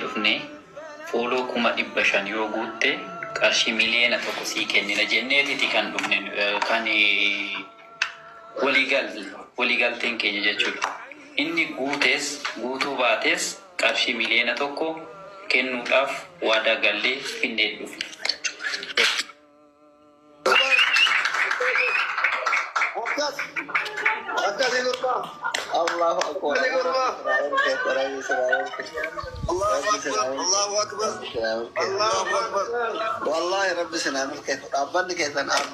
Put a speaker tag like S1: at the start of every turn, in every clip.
S1: dhufne fooloo kuma dhibba shan yoo guutte qarshii miliyeena tokko sii kennina jenneetiti kan dhufne kan waliigalteen keenya jechuudha. Inni guutes guutuu baates qarshii miliyoona tokko kennuudhaaf waadaa gallee Finneetti dhufne.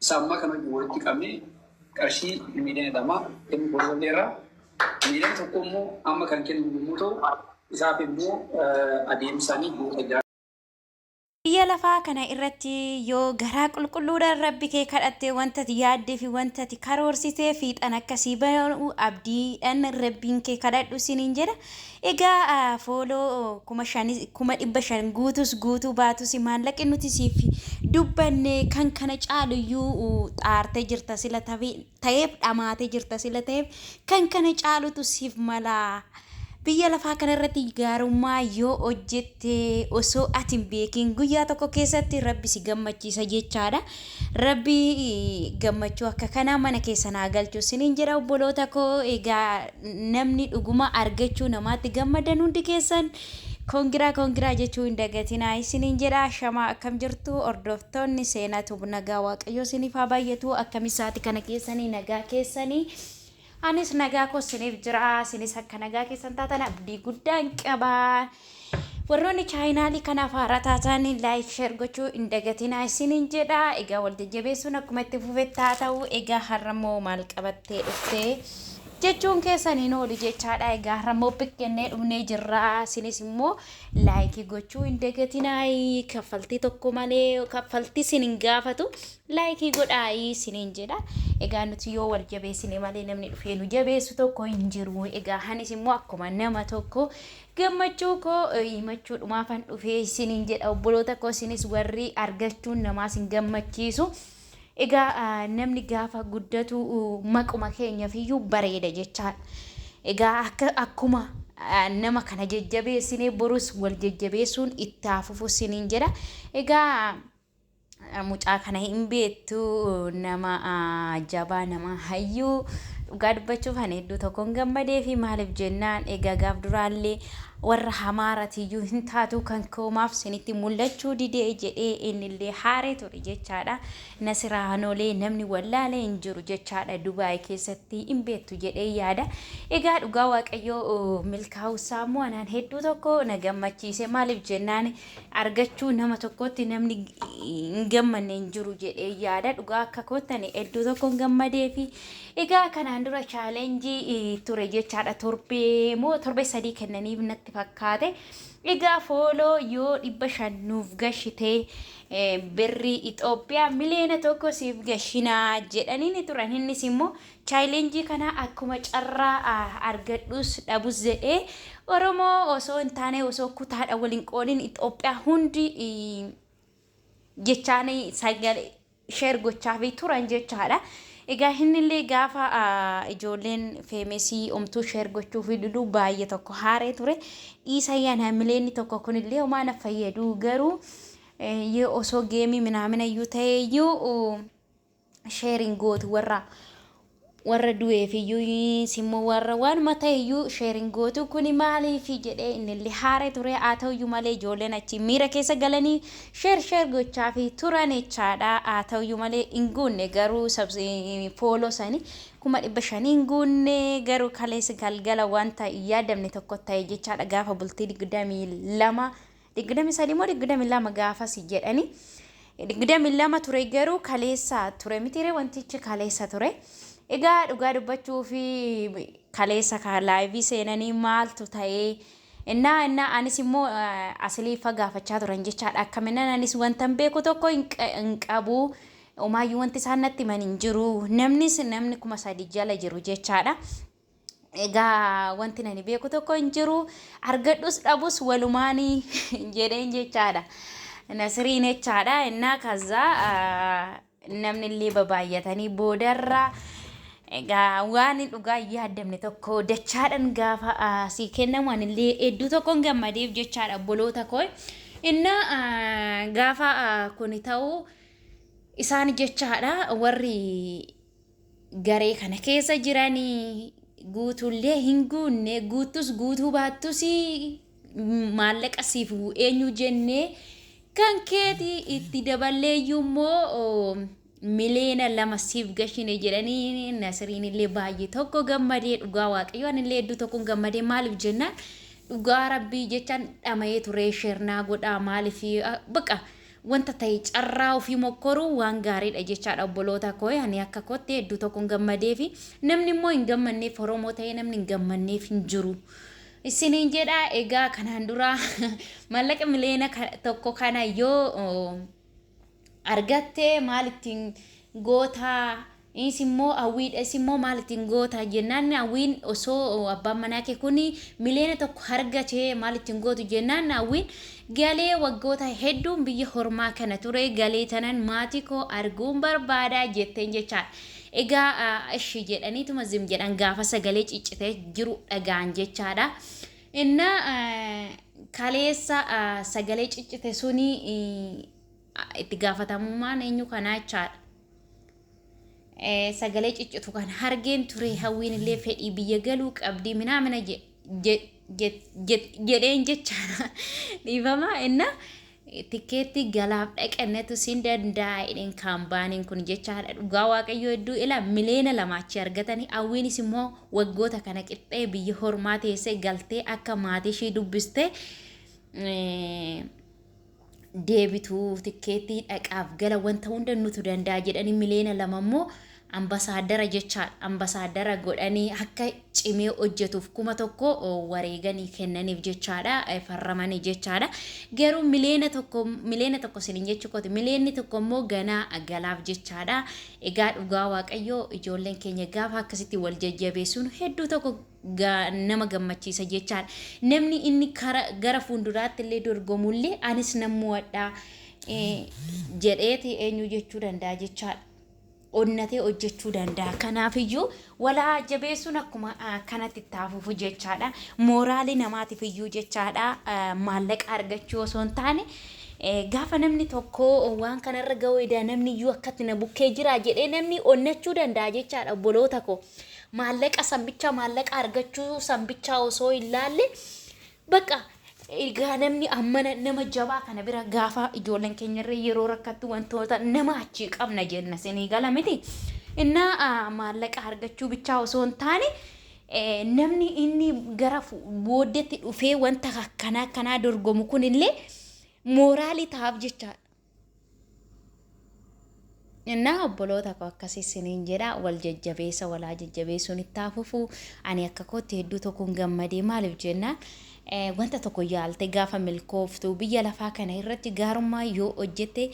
S1: Isa ammaa kana wajjin walitti qabnee qarshii miiliyoona lama kennuu goolabneerra. Miiliyoona tokko immoo amma kan kennamu yommuu ta'u, isaaf immoo adeemsaan ji'oota ja'a.
S2: Biyya lafaa kana irratti yoo garaa qulqulluudhaan Rabbi kee kadhatte wanta ati yaaddee fi wanta ati karoorsite fiixaan akka sii ba'u abdiidhaan Rabbiin kee kadhadhu siniin jedha. Egaa follow kuma shan kuma dhibba shan guutus guutuu baatus maallaqi nuti siif dubbanne kan kana caalu iyyuu xaarte jirta sila tafe ta'eef dhamaate jirta sila ta'eef kan kana caalutu siif mala biyya lafaa kana irratti gaarummaa yoo hojjette osoo ati hin beekin guyyaa tokko keessatti rabbi si gammachiisa jechaadha Rabbi gammachuu akka kanaa mana keessan haa galchu sinin jedha obboloota koo egaa namni dhuguma argachuu namaatti gammaddan hundi keessan kongiraa kongiraa jechuu hin dagatinaa isinin jedha shamaa akkam jirtu hordoftoonni seenaa tub nagaa waaqayyoo sinif haa baay'atu akkami isaati kana keessanii nagaa keessanii Anis nagaa koo siniif jira. Sinis akka nagaa keessan taatan abdii guddaan qaba. Warroonni chaayinaalii kanaaf haaraa taatan laayik sheer gochuu hin dagatinaa isiniin jedha. Egaa wal jajjabeessuun akkuma itti fufetti haa ta'u. Egaa har'a immoo maal qabattee dhuftee jechuun keessan hin oolu jechaadha. Egaa har'a immoo pikkennee dhufnee jirra. Sinis immoo laayikii gochuu hin dagatinaa. Kaffaltii tokko malee kaffaltii sin hin gaafatu. Like godhaayi isiniin jedha. Egaa nuti yoo wal jabeessine malee namni dhufee nu jabeessu tokko hin jiru. Egaa anis immoo akkuma nama tokko gammachuu koo himachuudhumaafan dhufee isiniin jedha obboloota koo isinis warri argachuun namaa isin gammachiisu. Egaa namni gaafa guddatu maquma keenyaaf iyyuu bareeda jechaa. Egaa akka akkuma nama kana jajjabeessinee borus wal jajjabeessuun itti haa fufu isiniin jedha. Egaa Mucaa kana hin beektu nama jabaa nama hayyuu dhugaa dubbachuuf ani hedduu tokkoon gammadee fi maaliif jennaan egaa gaaf duraallee warra hamaaratiyyuu hin taatu kan koomaaf sinitti mul'achuu didee jedhee innillee haaree ture jechaadha. Nasiraa hanoolee namni wallaalee hin jiru jechaadha Dubaay keessatti hin beektu jedhee yaada. Egaa dhugaa waaqayyoo milkaa'uusaa immoo anaan hedduu tokko na gammachiise maaliif jennaan argachuu nama tokkootti namni hin gammanne hin jiru jedhee yaada dhugaa akka koottani hedduu tokkoon gammadee fi egaa kanaan dura chaalenjii eh, ture jechaadha torbee moo torbee sadii kennaniif natti fakkaate egaa fooloo yoo dhibba shan nuuf gashitee eh, birrii Itoophiyaa miliyoona tokko siif gashinaa jedhaniini turan innis immoo Challenge kana akkuma carraa argadhus dhabus jedhee Oromoo osoo hin taane osoo kutaadha wal hin qoodin Itoophiyaa hundi jechaan sagalee share gochaafii turan jechaadha. Egaa innillee gaafa ijoolleen feemesii omtuu share gochuufii diduu baay'ee tokko haaree ture. Dhiisa yaan hamileenni tokko kunillee homaa na fayyadu garuu osoo geemii minaaminayyuu ta'eeyyuu sheeriin gootu warra warra du'eefiyyuu simmoo warra waanuma ta'eyyuu sheeriin gootu kuni maaliifi jedhee innillee haaree ture haa ta'uyyuu malee ijoolleen achi miira keessa galanii sheer sheer gochaafi turan jechaadha haa ta'uyyuu malee hin guunne garuu fooloo sanii kuma dhibba shanii hin guunne garuu kaleessa galgala wanta hin yaadamne tokko ta'e jechaadha gaafa bultii digdamii lama digdamii sadii moo digdamii lama gaafasi jedhani digdamii lama ture garuu kaleessa ture mitiire wantichi kaleessa ture egaa dhugaa dubbachuu fi kaleessa ka laayivii seenanii maaltu ta'ee innaa innaa anis immoo eh, asiliifa gaafachaa turan jechaadha akkaminan anis wantan beeku tokko hin qa- hin qabu umaayyuu wanti isaan natti himan hin jiru namnis namni kuma sadi jala jiru jechaadha Egaa wanti nani beeku tokko hin jiru argadhus dhabus walumaanii jedheen jechaadha. Nasiriin jechaadha innaa kaza namni illee babaay'atanii boodarra egaa waan hin dhugaa hin yaadamne tokko dachaadhan gaafa sii kennamu anillee hedduu tokkon gammadeef jechaadha obboloota koo. Innaa gaafa kuni ta'u isaan jechaadha warri garee kana keessa jiran guutuullee hin guunne guuttus guutuu baattus maallaqa siif eenyu jennee kan keeti itti daballeeyyuu immoo miliyoona lama siif gashine jedhanii nasiriin illee baay'ee tokko gammadee dhugaa waaqayyoo ani illee hedduu tokkoon gammadee maaliif jennaan dhugaa rabbii jechaan dhama'ee turee sheernaa godhaa maaliif baqa Wanta tahe carraa ofii mokkoruun waan gaariidha jechaadha obboloota kooe ani akka kootti hedduu tokkon gammadeefi namni immoo hin gammanneef oromoo tahee namni hin gammanneef hin jiru isiniin jedha egaa kanaan dura mallaqa miliyoona ka- tokko kana yoo argatte maal ittiin gootaa Is immoo hawwii dha. Is immoo maal ittiin goota jennaan hawwiin osoo abbaan manaa kee kun miliyoona tokko argate maal ittiin gootu jennaan hawwiin galee waggoota hedduun biyya hormaa kana ture galee tanan maatii koo arguun barbaada jetteen jechaan egaa ishi jedhaniituma zim jedhan gaafa sagalee ciccitee jiru dhagaan jechaadha. Inna kaleessa sagalee ciccite suni itti gaafatamummaan eenyu kanaa jechaadha. sagalee ciccitu kan hargeen ture hawwiin illee fedhii biyya galuu qabdii minaa mina jedheen jechaadha dhiifama inna tikkeetti galaaf dhaqannetu siin danda'a jedheen kaambaaniin kun jechaadha dhugaa waaqayyoo hedduu ila miliyoona lamaachi argatanii hawwiinis immoo waggoota kana qixxee biyya hormaa teessee galtee akka maatii ishii dubbistee deebitu tikkeettii dhaqaaf gala wanta hunda nutu danda'a jedhanii miliyoona lama immoo ambasaaddara jechaan ambasaaddara godhanii akka cimee hojjetuuf kuma tokko wareeganii kennaniif jechaadha farramanii jechaadha garuu miliyoona tokko miliyoona tokko sinin jechuu kooti miliyoonni tokko immoo ganaa galaaf jechaadha egaa dhugaa waaqayyoo ijoolleen keenya gaafa akkasitti wal jajjabeessuun hedduu tokko gaa nama gammachiisa jechaan namni inni kara gara fuulduraatti illee dorgomullee anis nan mo'adha eh, jedheeti eenyu jechuu danda'a jechaadha. onnatee hojjechuu danda'a. Kanaafiyyuu walaa jabeessuun akkuma ah, kanatti itti hafuuf jechaadha. Mooraalii namaatiif iyyuu jechaadha. Ah, Maallaqa argachuu osoo hin taane eh, gaafa namni tokko waan kanarra ga'uu edaa namni iyyuu akkatti na bukkee jira jedhee namni onnachuu danda'a jechaadha obboloota koo. maallaqa san bichaa maallaqa argachuu san bichaa osoo hin laalle bakka egaa namni ammana nama jabaa kana bira gaafa ijoolleen keenya irra yeroo rakkattu wantoota nama achii qabna jenna sinii gala miti innaa ah, maallaqa argachuu bichaa osoo hin taane eh, namni inni gara fu- booddeetti dhufee wanta akkanaa akkanaa dorgomu kunillee mooraalii ta'aaf jechaadha. Innaa obboloota koo akkasii isiniin jedha wal jajjabeessa walaa jajjabeessuun itti haa fufu ani akka kootti hedduu tokkoon gammadee maaliif jennaan eh, wanta tokko yaalte gaafa milkooftu biyya lafaa kana irratti gaarummaa yoo hojjette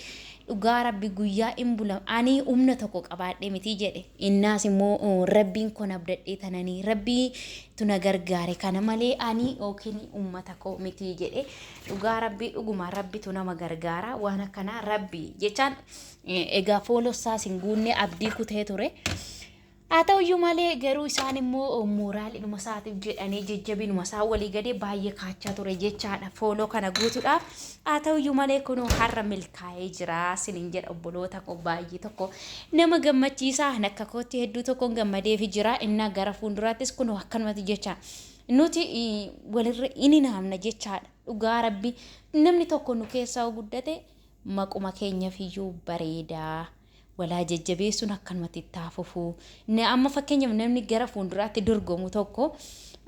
S2: dhugaa rabbi guyyaa in bula ani humna tokko qabaadhe miti jedhe innaas immoo oh, rabbiin kun abdadhee tananii rabbii tuna gargaare kana malee ani yookiin uummata koo miti jedhe Dhugaa rabbii dhuguma rabbitu nama gargaara waan akkanaa rabbii jechaan egaa foolossaa sin guunnee abdii kutee ture haa ta'uyyuu malee garuu isaan immoo mooraalidhuma isaatiif jedhanii jajjabinuma isaa walii gadee baay'ee kaachaa ture jechaadha fooloo kana guutuudhaaf haa ta'uyyuu malee kunuu har'a milkaa'ee jira sinin jedha obboloota koo baay'ee tokko nama gammachiisaa akka kootti hedduu tokkoon gammadeefi jira innaa gara fuulduraattis kunuu akkanumatti jecha Nuti walirra in hinaafna jechaadha. Dhugaa rabbi namni tokko nu keessaa yoo guddate maquma keenyaf iyyuu bareeda. Walaa jajjabeessuun akkanumatti itti haa fufu. Na- Amma fakkeenyaaf namni gara fuulduraatti dorgomu tokko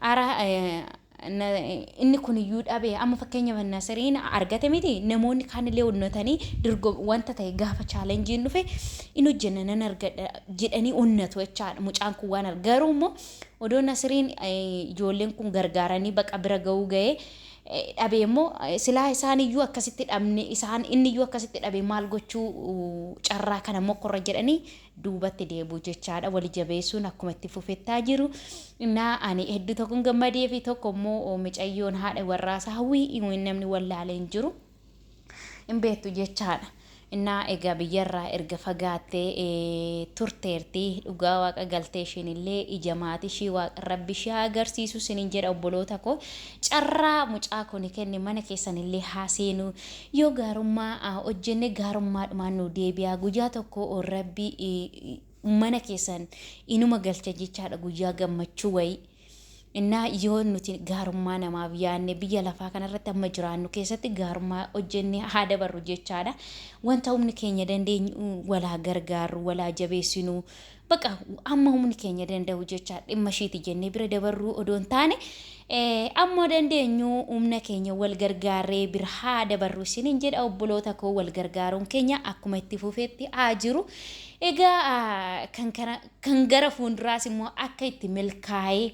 S2: ara eh, na- inni kun iyyuu dhabe amma fakkeenyaaf nasiriin argate miti namoonni kaanillee onnatanii dorgo- wanta ta'e gaafa chaalenjiin dhufe in hojjenna nan argadha jedhanii onnatu jechaadha mucaan kun waan arg- garuu immoo Odoo Nasiriin ijoolleen kun gargaaranii baqa bira ga'uu ga'ee dhabee immoo silaa isaan iyyuu akkasitti dhabne isaan inni iyyuu akkasitti dhabe maal gochuu carraa kana mokkorra jedhanii duubatti deebi'u jechaadha wali jabeessuun akkuma itti fufettaa jiru. Innaa ani hedduu tokkoon gammadee fi tokko immoo micayyoon haadha warraasaa hawwii namni wallaalee hin jiru. hin beektu jechaadha. Innaa egaa biyyarraa erga fagaattee turteerti. Dhugaa waaqa galtee isheen illee ija maatii ishii waaqa rabbi ishee haa agarsiisu sinin jedha obboloota koo. Carraa mucaa kuni kenne mana keessan illee haa seenu. Yoo gaarummaa hojjenne gaarummaadhumaan nu deebi'a. Guyyaa tokko rabbi mana keessan inuma galcha jechaadha guyyaa gammachuu wayii. Innaa yoo nuti gaarummaa namaaf yaadne biyya lafaa kanarratti amma jiraannu keessatti gaarummaa hojjennee haa dabarru jechaadha. Wanta humni keenya dandeenyu walaa gargaarru, walaa jabeessinu, baqa amma humni keenya danda'u jecha dhimma ishiiti jennee bira dabarruu odoo hin taane eh, amma dandeenyu humna keenya wal gargaarree bira haa dabarru isiniin jedha obboloota koo wal gargaaruun keenya akkuma itti fufeetti haa jiru. Egaa ah, kan kana Kan gara fuunduraas immoo akka itti milkaa'ee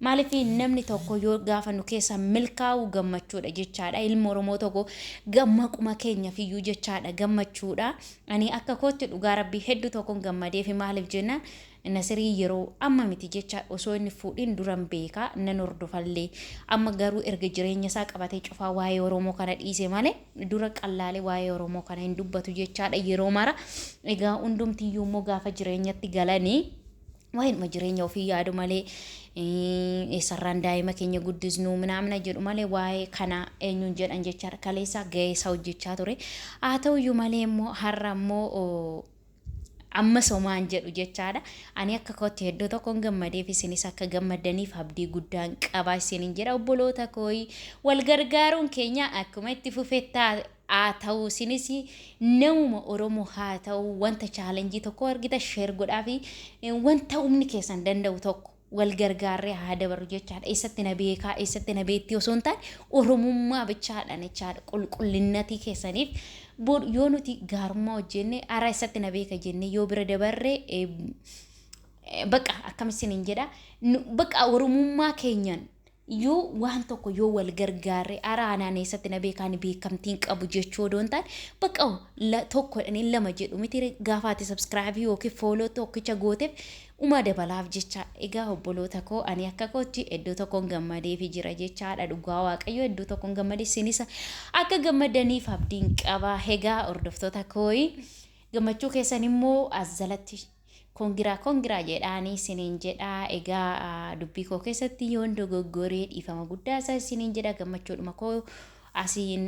S2: maaliif namni tokko yoo gaafa nu keessa milkaa'uu gammachuudha jechaadha ilma oromoo tokko gammaquma keenya fiyyuu jechaadha gammachuudha ani akka kootti dhugaa rabbii hedduu tokkon gammadeefi maaliif jennaan nasirii yeroo amma miti jecha osoo inni fuudhin duran beekaa nan hordofallee amma garuu erga jireenya isaa qabatee cufaa waa'ee oromoo kana dhiise malee dura qallaalee waa'ee Oromoo kana hin dubbatu jechaadha yeroo mara. Egaa hundumtiyyuu immoo gaafa jireenyatti galanii waa'eedhuma jireenya ofii yaadu malee eh, eessarraan daa'ima keenya guddisnu minaamina jedhu malee waa'ee kana eenyuun jedhan jechaadha. Kaleessaa ga'eessaa hojjechaa ture. Haa ta'uyyuu malee immoo har'a immoo oh, Ammas homaan jedhu jechaadha. Ani akka kootti hedduu tokkoon gammadeef isinis akka gammaddaniif abdii guddaan qaba isinin jedha obboloota kooyi. Wal gargaaruun keenya akkuma itti fufetti haa ta'u isinis namuma Oromoo haa ta'u wanta chaalenjii tokko argita sheer godhaa fi wanta humni keessan danda'u tokko wal gargaarree haa dabarru jechaadha. Eessatti na beekaa, eessatti na beektii osoo hin taane Oromummaa bichaadhaan jechaadha. Qulqullinnatii keessaniif bor yoo nuti gaarummaa hojjenne hara eessatti na beeka jennee yoo bira dabarre eh, eh, baqa akkam isiniin jedha Nu- baqa Oromummaa keenyaan Iyyuu waan tokko yoo wal gargaarre ara anaan eessatti na beeka ani beekamtiin qabu jechuu odoo hin taane bakka la- tokkodha ni lama jedhu miti ree? gaafa ati subscribe yookiin follow tokkicha gooteef umaa dabalaaf jecha egaa obboloota koo ani akka kootti iddoo tokkoon gammadeefi jira jechaadha dhugaa waaqayyo iddoo tokkoon gammade isinis akka gammadaniif abdiin qaba egaa hordoftoota kooyi gammachuu keessan immoo as jalatti Congra congra jedhaani isiniin jedha egaa dubbii koo keessatti yoon dogoggore dhiifama guddaa isaa isiniin jedha gammachuudhuma koo asiin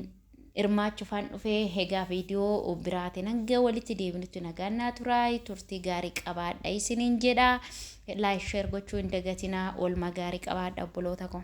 S2: hirmaachuufaan dhufe egaa viidiyoo biraatiin hanga walitti deebinutti nagaan naa turaa turtii gaarii qabaadha isiniin jedha laayik sheer gochuu hin dagatinaa oolmaa gaarii qabaadha obboloota koo.